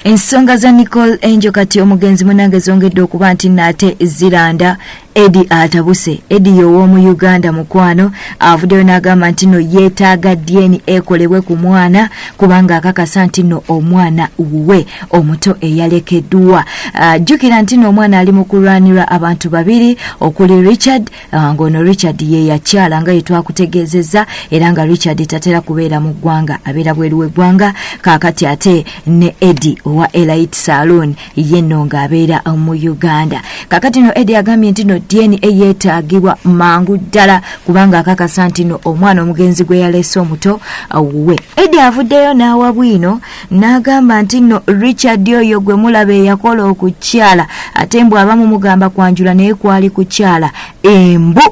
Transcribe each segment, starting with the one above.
ensonga za nicole angel kati omugenzi munange zongedde okuba nti naate ziranda edi atabuse edi yow'omu uganda mukwano avuddeyo n'agamba nti no yeetaaga dna ekolebwe ku mwana kubanga akakasa nti no omwana wuwe omuto eyalekeddwa ah, jjukira nti no omwana ali mu kulwanirwa abantu babiri okuli richard Ah, ng'ono richard ye yakyala nga yetwakutegeezezza era nga richard tatera kubeera mu ggwanga abeera bweru w'eggwanga kaakati ate ne edi owa elite saloon ye nno ng'abeera mu uganda kaakati no edi agambye nti no dna yeetaagibwa mangu ddala kubanga akakasa nti no omwana omugenzi gwe yaleese omuto awuwe edi avuddeyo n'awa bwino n'agamba nti nno richard oyo gwe mulaba eyakola okukyala ate mbu abamu mugamba kwanjula naye kwali kukyala embu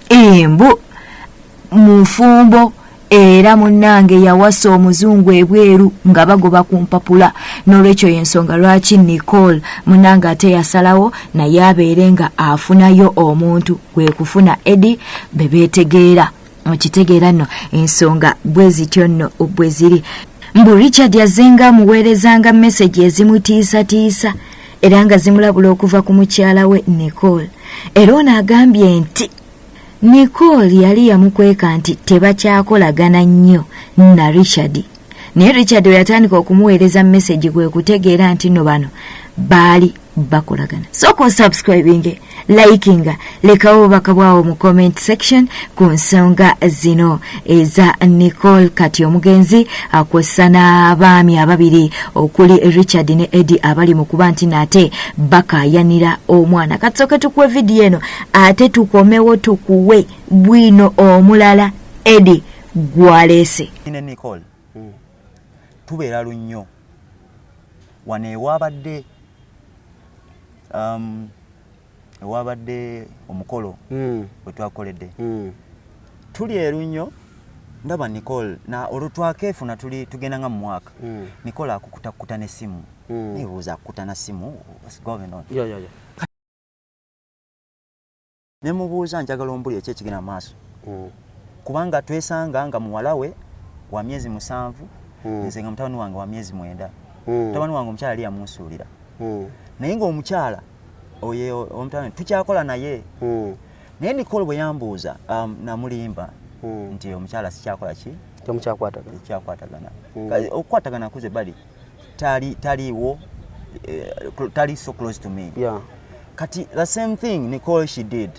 embu mufumbo era munnange yawasa omuzungu ebweru nga bagoba ku mpapula n'olwekyo y'ensonga lwaki nicole munnange ate yasalawo naye abeere nga afunayo omuntu kwe kufuna edi be beetegeera mukitegeera nno ensonga bwe zityo nno bwe ziri mbu richard azenga amuweerezanga mesegi ezimutiisatiisa era nga zimulabula okuva ku mukyala we nicole era ono agambye nti nicole yali yamukweka nti tebakyakolagana nnyo na richard naye richard we yatandika okumuweereza mesegi gwe kutegeera nti no bano baali bakolagana sooka osubscribinge likinga lekawo obubaka bwawo mu comment section ku nsonga zino eza nicole kati omugenzi akwessa n'abaami ababiri okuli richard ne edi abali mu kuba nti naate bakayanira omwana kati soke tukuwe vidiyo eno ate tukomewo tukuwe bwino omulala edi gwaleese tubeera lunnyo wano ewabadde um, ewabadde omukolo mm. wetwakoledde mm. tuli erunnyo ndaba nicole na olutwakefuna tuli tugenda nga mumwaka mm. nicole akukutakukuta nesimu mm. nebuuza akukuta na simu what's going on yeah, yeah, yeah. ne mubuuza njagala ombuli eki ekigenda mu maaso mm. kubanga twesanga nga muwala we wa myezi musanvu mm. nze nga mutabani wange wa myezi mwenda mm. mutabani wange omukyala yali yamunsuulira mm. naye ng'omukyala oyo omutabani tukyakola naye mm. naye nikolo bwe yambuuza um, namulimba mm. nti omukyala sikyakola ki tomukyakwatagana okyakwatagana mm. okukwatagana kuze bali tali taliwo uh, tali so close to me yeah. kati the same thing nicole she did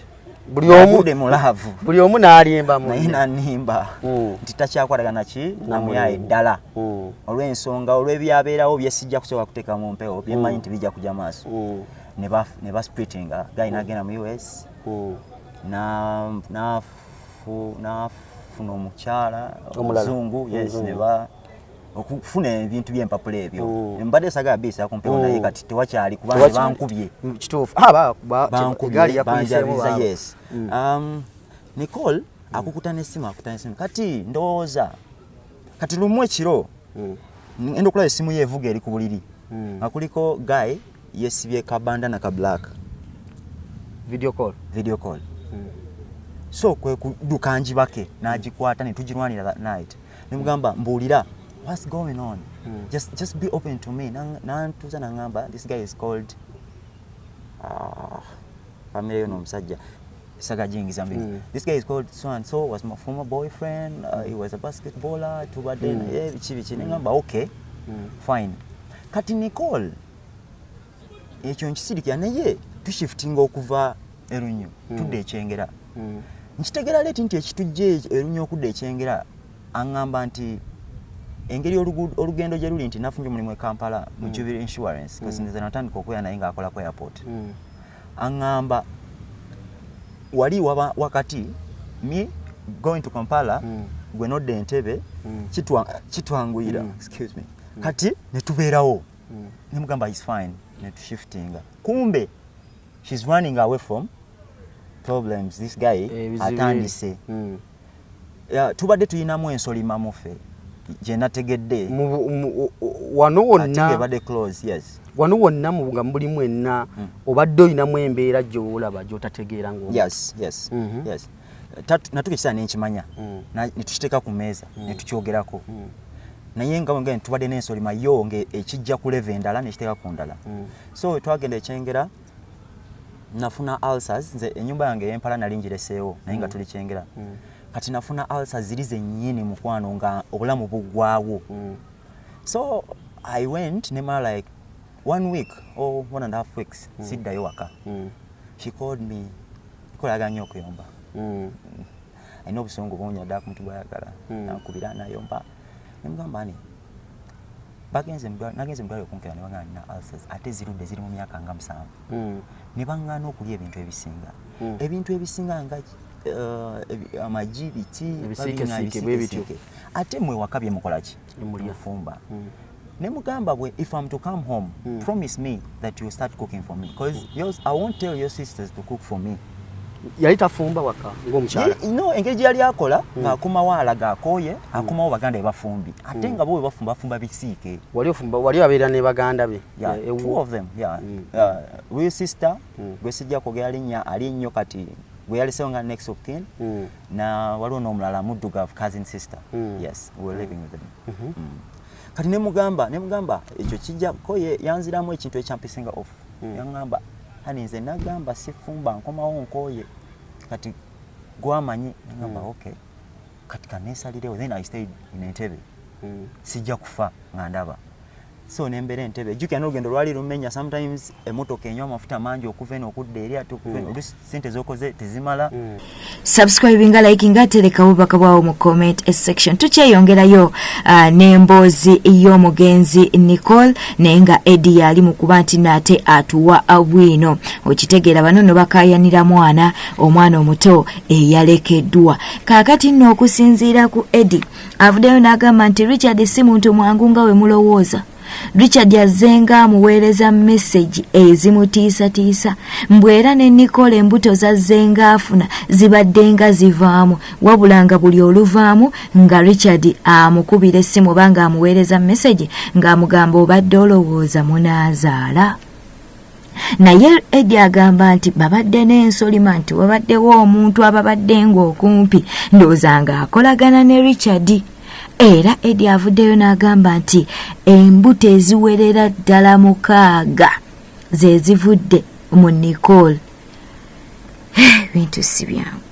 buli omu de mulavu buli omu nalimba mu ina nimba mm. titakyakwaga naki namuya edala mm. olwe nsonga olwe byabera obye sijja kusoka kuteka mu mpeo bye mm. manyi tibija kuja maso mm. ne ba ne ba splitting ah, guy mm. na gena mu US mm. na na fu na fu no mukyala omuzungu yes mm. ne ba okufuna ebintu byempapula ebyo oh. mbadde sagala biisa kumpewo naye oh. kati tewakyali kubanga bankubye mm, kituufu ah, bankubyebanjabiza yes mm. um, nicole akukuta nesimu akuta nesimu kati ndowooza kati lumu ekiro mm. enda okulaba esimu ye evuga eri ku buliri nga kuliko guy yesibye kabanda na ka black video call video call so kwe kuduka njibake nagikwata netugirwanira that night nemugamba mbuulira what's going on mm. just, just be open to me nantuza na nangamba this guy is called ah, family yono omusajja saga jingi zambi mm. this guy is called so and so was my former boyfriend uh, he was a basketballer tubadde mm. naye eh, biki biki nengamba hmm. okay mm. fine kati nicole ekyo nkisirikira naye tushiftinga okuva erunyo hmm. tudde ekyengera hmm. nkitegera leti nti ekitujja erunyo okudda ekyengera aŋŋamba nti engeri olugendo gye luli nti nafunye omulimu e kampala mu hmm. jubilee insurance kasinzeza natandika okubeera naye ng'akola ku airport aŋŋamba wali wakati mi going to kampala gwe nodda entebe kitwanguyira kati netubeerawo nemugamba is fine netushiftinga kumbe she's running away from problems this guy eh, atandise mm. yeah, tubadde tulinamu ensolima mufe gyenategedde wano wonnaebadde close yes wano wonna nga mulimu enna mm. obadde olinamu embeera gyowolaba gyotategeera ngo yes yes mm -hmm. yes natuka ekisaa nenkimanya mm. netukiteeka ku meeza mm. netukyogerako mm. naye nga tubadde n'ensolima yo ngaekijja ku leve endala nekiteeka ku ndala so wetwagenda ekyengera nafuna ulcers nze enyumba yange eyempala nali njireseewo naye nga mm. tuli kyengera mm. kati nafuna ulcers ziri zenyini mukwano nga obulamu bugwawo mm. so i went nemala like one week or one and half weeks siddayo waka she called me kolaga nyo okuyomba alina obusungu bungi naddala ku muntu gwayagala hmm. nakubira nayomba nemugamba ani nagenze mu ddwaliro okunkera nebaŋana nina ulcers ate zirudde ziri mu myaka nga musanvu hmm. nebaŋana okulya ebintu ebisinga hmm. ebintu ebisinga nga eh, amagi biki ate mwe waka byemukolaki mufumba mm. ne mugamba bwe if am to come home mm. promise me that you start cooking for me because mm. yours, i won't tell your sisters to cook for me yali tafumba waka ngomukyala no engeri gye yali akola mm. ng'akomawo alaga akooye mm. akomawo baganda bebafumbi ate mm. nga bo bebafumba bafumba bisiike wali ofumba wali abeera ne baganda be yeah, yeah, two of them yeah. mm. uh, real sister mm. gwe sijja kwogera linnya ali nnyo kati gwe yalisewo nga next of kin mm. na waliwo n'omulala muddugavu cousin sister mm. yes we were mm. living with them mm -hmm. mm. kati nemugamba nemugamba ekyo kijja ko yanziramu ekintu ekyampisinga off mm. yangamba hani nze nagamba sifumba nkomawo nkoye kati gwamanyi nagamba mm. okay kati kanesalirewo then i stayed in entebe mm. sijja kufa nga ndaba so nembera entebe ejukira nolugendo lwali lumenya sometimes emotoka enywa amafuta mangi okuva eno okudda eri ate okuva eno mm. olusi sente zokoze tezimala mm. subscribinga likinga atereka bubaka bwawo mu comment section tukyeyongerayo uh, n'emboozi y'omugenzi nicole naye nga edi yali mu kuba nti naate atuwa bwino okitegeera bano no bakayanira mwana omwana omuto eyalekeddwa kaakati nno okusinziira ku edi avuddeyo n'agamba nti richard si muntu mwangu nga we mulowooza richard azzenga amuweereza mesegi ezimutiisatiisa mbw era ne nikola embuto zazzenga afuna zibaddenga zivaamu wabula nga buli oluvaamu nga richard amukubira essimu oba nga amuweereza mesegi ng'amugamba obadde olowooza munaazaala naye edi agamba nti babadde n'ensolima nti wabaddewo omuntu ababadde ng'okumpi ndowooza ng'akolagana ne richard era edi avuddeyo n'agamba nti embuto eziwerera ddala mukaaga ze zivudde mu nicole ebintu si byangu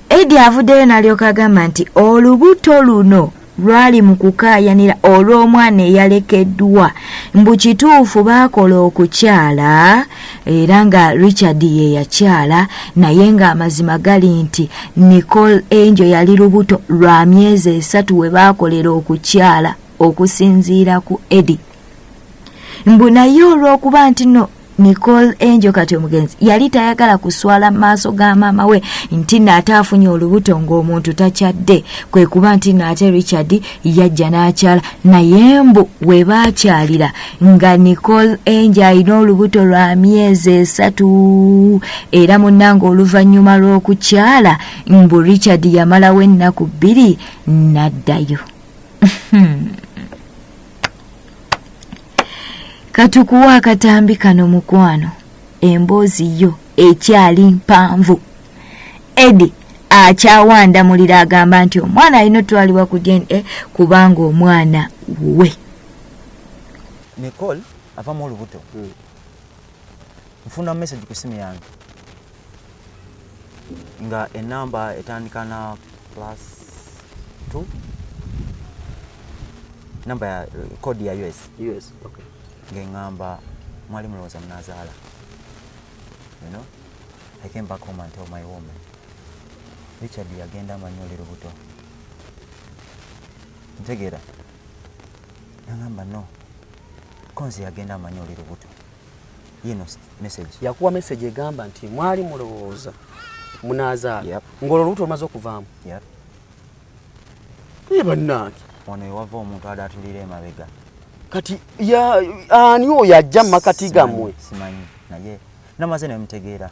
edi avuddeyo n'alyoka agamba nti olubuto luno lwali mu kukaayanira olw'omwana eyalekeddwa mbu kituufu baakola okukyala era nga richard ye yakyala naye ng'amazima gali nti nicole angel yali lubuto lwa myezi esatu we baakolera okukyala okusinziira ku edi mbu naye olw'okuba nti no nicole enjo kati omugenzi yali tayagala kuswala mu maaso ga maama we nti naate afunye olubuto ng'omuntu takyadde kwe kuba nti naate richard yajja n'akyala naye mbu we baakyalira nga nicole enjo alina olubuto lwa myezi esatu era munnanga oluvannyuma lw'okukyala mbu richard yamalawo ennaku bbiri n'addayo katukuwa akatambi kano mukwano emboozi yo ekyali mpanvu edi akyawanda muliro agamba nti omwana alina otwalibwa ku dna eh, kubanga omwana wuwe nicole avamu olubuto hmm. nfuna message ku simu yange nga enamba etandika na plus 2 namba ya code ya us us okay ngengamba mwali mulowooza munazaala you know i came back home and tell my woman richard yagenda amanyi oli lubuto ntegeera nangamba no konzi yagenda amanyi oli lubuto yakuwa message egamba nti mwali mulowooza munazaala yep. ng'olwo olubuto lumaze okuvaamu yep. naye bannange wano ewava omuntu adatulira emabega kati ani oyo ajja mu makati gammwe simanyi naye namaze nemutegeera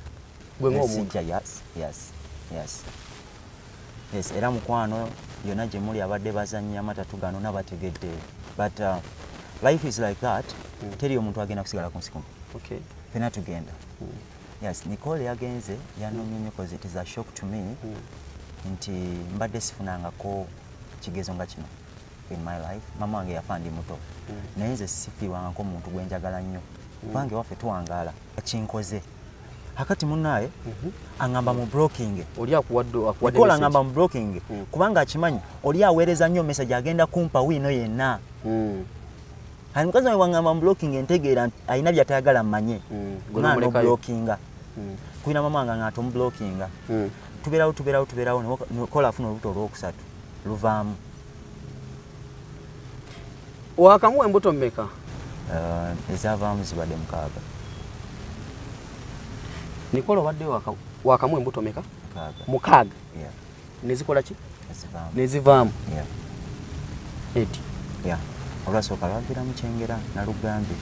gwe ngaomuntu yes era mukwano yona gyemuli abadde bazannya amatatu gano nabategedde but uh, life is like that mm. teri omuntu agenda kusigala ku nsikumu okay. fena tugenda mm. yes nicole yagenze yanomye nyo cause it is a shock to me mm. nti mbadde sifunangako kigezo nga kino in my life mama wange yafa ndi muto mm. naye nze sifiirwangako omuntu gwenjagala nnyo mm. bange waffe tuwangaala kinkoze akati munaye mhm. angamba mu blocking oli akuwadde akuwadde kola angamba mu blocking mm. kubanga akimanyi oli awereza nyo message agenda kumpa wino yenna mm. hali mukazi wange wangamba mu blocking entegeera alina byatayagala mmanye mm. gona no blocking mm. kuina mama wange ngaato mu blocking mm. tuberawo tuberawo tuberawo kola afuna olubuto olwokusatu luvaamu wakamuwa embuto mmeka uh, ezavaamu zibadde mukaaga nikola obadde wakamuwa embuto meka mukaaga nezikola ki nezivaamu eti olwasooka lwagira mukyengera nalugambye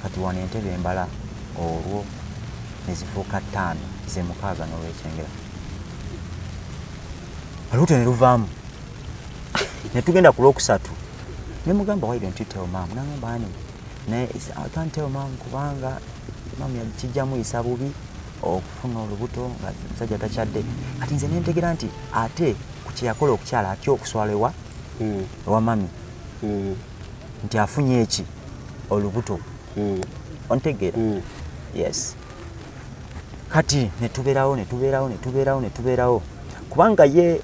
kati wano entebe embala olwo nezifuuka ttaano zemukaaga nolwekyengera olubuto ne luvaamu ne tugenda ku lwokusatu ne mugamba why don't you tell mom nangamba ani naye i can't tell mom kubanga mom yakijjamu yisa bubi okufuna olubuto nga musajja takyadde kati nze nentegera nti ate ku kyeyakola okukyala atya okuswala ewa hmm. ewa mami hmm. nti afunye eki olubuto hmm. ontegeera yes kati netubeerawo netubeerawo netubeerawo netubeerawo kubanga ye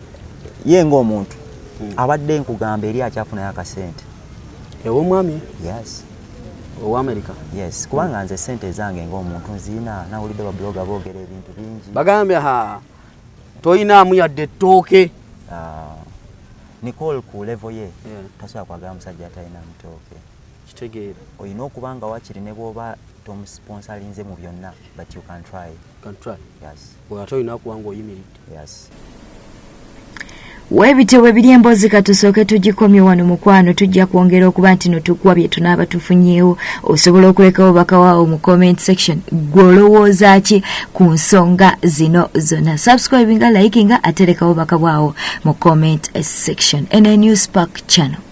ye ngaomuntu hmm. abadde nkugamba eri akyafunayo akasente ewomwami yes owamerika yes kubanga nze sente ezange ngaomuntu nziina nawulidde babuloga boogera ebintu bingi bagambye ha toyinaamu yadde ettooke ah, nicole ku levo ye tasobola kwagala musajja atalina mutooke kitegeera olina okuba nga wakiri ne bwoba tomusponsalinze mu byonna but you can try can try yes ate olina okuba nga oyimiridde yes webityo webiri emboozi katusooke tugikomye wano mukwano tujja kwongera okuba nti notukuwa bye tunaaba tufunyeewo osobola okuleka obubaka waawo mu comment section gwe olowooza ki ku nsonga zino zonna subscribinga likinga atereka obubaka bwawo mu comment section ene new spark channel